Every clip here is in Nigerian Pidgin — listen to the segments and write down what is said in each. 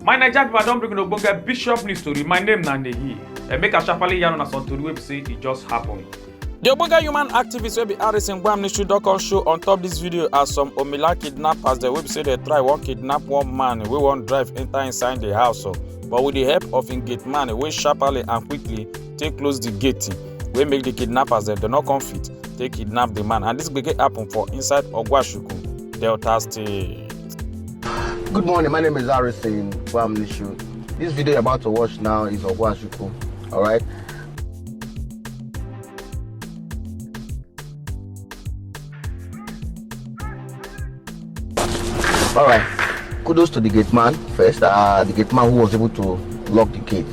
My Naija people, I don bring una ogbonge bishop news story. My name na Nehi. Eh, Make I sharply yarn una some tori wey be say e just happen. The Ogbonge human activist wey be Harris Ngwam Nishu don come show on top this video as some Omila kidnappers dem wey be say dey try wan kidnap one man wey wan drive enter inside the house o. But with the help of im gate man wey sharply and quickly take close the gate wey make the kidnappers dem dem no come fit take kidnap the man and this gbege happen for inside ogwashuku delta state. Good morning, my name is Harrison Bamnishu. This video you're about to watch now is Ogwashuku, alright? All right. Kudos to the gate man first. Uh, the gate man who was able to lock the gate.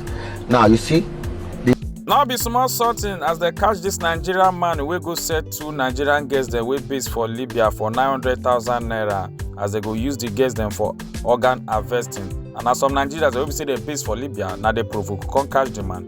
Now you see. The... Now be small sorting as they catch this Nigerian man wey go sell two Nigerian girls dem wey base for Libya for nine hundred thousand naira as they go use the girls dem for organ harvesting. And as some Nigerians wey be say dem base for Libya na dey provoke come catch the man.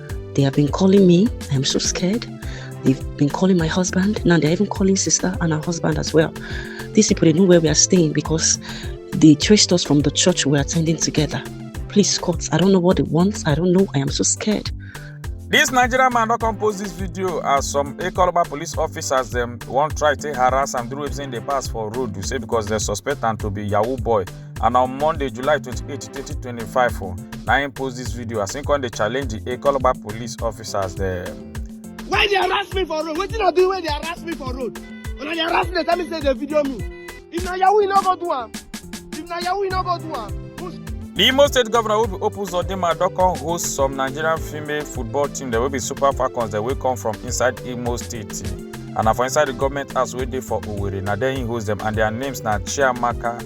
They have been calling me. I'm so scared. They've been calling my husband. Now they're even calling sister and her husband as well. These people they know where we are staying because they traced us from the church we're attending together. Please, court. I don't know what they want. I don't know. I am so scared. This Nigerian man don compose this video as some Ekoloba police officers dem wan try take harass am through wetin dey pass for road say because dem suspect am to be yahoo boy and on monday july 28 2025 o na im post dis video as im come dey challenge di ekoloba police officers dem. why dey harass me for road wetin i do wey dey harass me for road una dey harass me dey tell me say dey video me if na yahoo you no go do am if na yahoo you no go do am. di imo state governor wey be hope uzodinma don come host some nigerian female football team dem wey be super falcons dem wey come from inside imo state and na for inside di goment house wey dey for owerri na there im host dem and dia names na chiamaka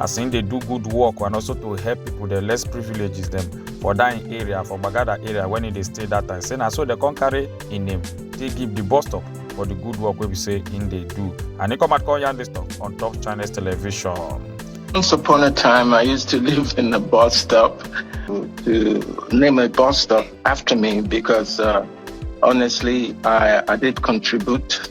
as im dey do good work and also to help people the less privileges dem for that im area for gbagada area when he dey stay that time say na so dem come carry im name take give the bus stop for the good work wey be say im dey do and he come out come yarn this talk on top channels television. Once upon a time, I used to live in a bus stop to name a bus stop after me because uh, honestly, I, I did contribute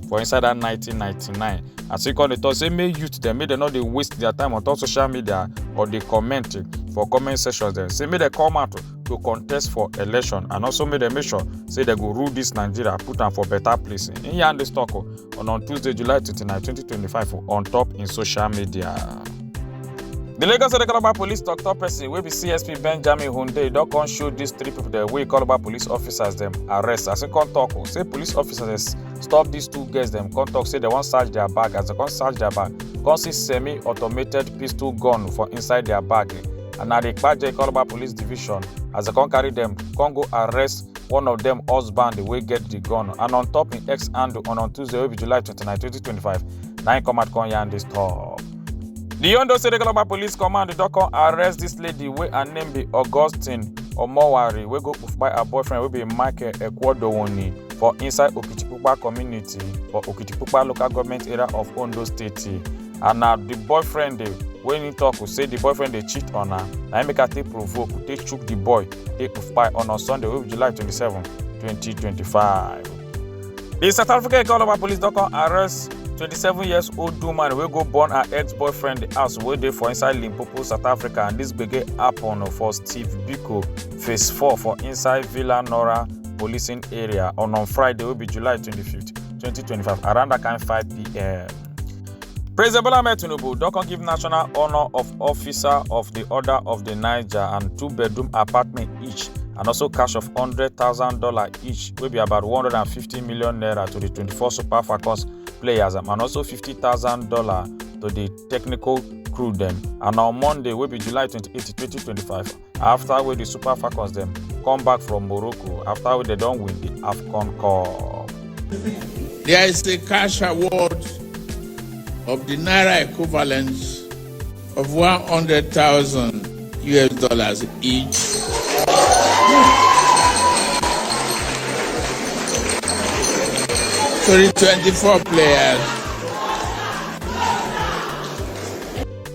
for inside that 1999 as he come dey talk say make youth dem make dem no dey waste their time on top social media or dey comment for comment sections dem say make dem come out to contest for election and also make dem make sure say dem go rule this nigeria put am for better place im yarn dis talk o on on tuesday july 29 2025 o, on top im social media. The Lagos State Calabar Police Tok Tok Person wey be CSP Benjamin Hunde don come show dis three people dem wey Calabar police officers dem arrest as he come talk o say police officers stop these two girls dem come talk say dem wan search their bag as dem come search their bag come see semi-automated pistol gun for inside their bag and na the kpaje calabar police division as dem come carry dem come go arrest one of dem husband wey get the gun and on top im ex handle on on tuesday wey be july 29 2025 na im come out come yarn dis tok. di ondo state local police command don come arrest dis lady wey her name be augustine omowari wey go kpai her boyfriend wey be michael ekwodowoni for inside okitipupa community for okitipupa local government area of ondo state and na di boyfriend dey wey he talk say di boyfriend dey cheat on her na im make her take provoke take chook di boy take kpai on on sunday wey be july twenty-seven twenty twenty-five di south africa economy police don come arrest 27 years old woman wey go burn her ex-boyfriend house wey dey for inside limpopo south africa and dis gbege happen for steve biko phase 4 for inside villa nora policing area on on friday wey be july 25 2025 around dat kind 5pm President Bola Ahmed Tinubu don come give National Honour of Officer of the Order of the Niger and two-bedroom apartment each and also cash of $100,000 each wey be about 150 million naira to the 24 Super Falcons players and also $50,000 to the technical crew dem and on Monday wey be July 28, 2025 afta wey di super falcons dem come back from morocco afta wey dem don win di afcon cup. There is a cash award of the naira equivalent of 100,000 US dollars each. To the 24 players.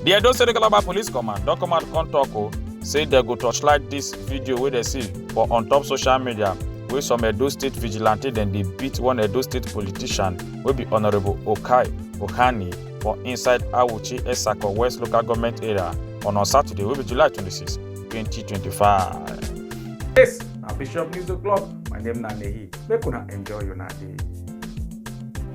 di edo state calabar police command don come out come tok o say dem go torchlight dis video wey dem see for on top social media wey some edo state vigilante dem dey beat one edo state politician wey be honourable okai ohani for inside awuchi esako west local government area on on saturday wey be july 26 2025. Yes, na Bishop News O'Clock. My name na Nehi. Make una enjoy una day.